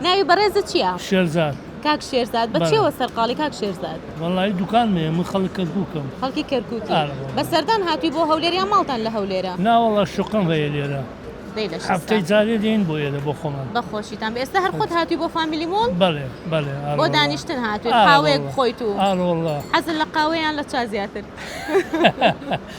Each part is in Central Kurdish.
ناوی بەڕێزت چیە؟ شێرزاد. کاک شێرزاد بە چیەوە سەرقاڵی کاک شێرزاد؟ وەڵایی دوکانم هەیە من خەڵک کەرکوکم. خەڵکی کەرکوکی. بە سەردان هاتوی بۆ هەولێر یان ماڵتان لە هەولێرە؟ نا وەڵا شوقەم هەیە لێرە. دەی لە شستا. هەفتەی جارێ دێین بۆ ئێرە بۆ خۆمان. بە خۆشیتان بێ ئێستا هەر خۆت هاتوی بۆ فامیلی مۆڵ؟ بەڵێ بەڵێ ئارە وەڵا. بۆ دانیشتن هاتوی قاوەیەک بخۆیت و. ئارە وەڵا. حەزت لە قاوەیە یان لە چا زیاتر؟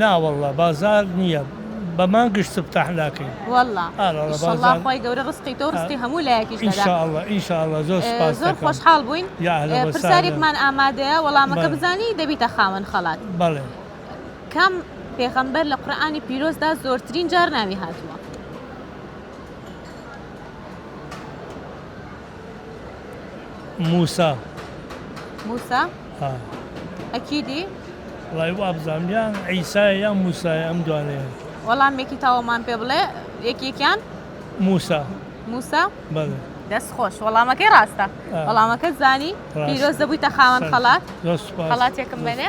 نا واللە بازار نیە بە مانگش سبتاح ناکەی. واللە ئیشەڵا خوای گەورە ڕسقی تۆو ڕسقی هەموو لایەکیش دەدا. انشاءاللە انشاءاللە زۆر سوپاست دەکەم. زۆر خۆشحاڵ بووین. یا اهلا وسهلا. پرسیارێکمان ئامادەیە وەڵامەکە بزانی دەبیتە خاوەن خەڵات. بەڵێ. کام پێغەمبەر لە قورئانی پیرۆزدا زۆرترین جار ناوی هاتووە؟ موسا. موسا ها ئەکیدی. وەڵای وابزانم یان عیسایە یان موسایە ئەم دوانەیان. وەڵامێکی تەواومان پێ بڵێ یەکێکیان. موسا. موسا بەڵێ. دەست خۆش وەڵامەکەی ڕاستە وەڵامەکەت زانی پیرۆز دەبوویتە خاوەن خەڵات خەڵاتێکم بەنێ.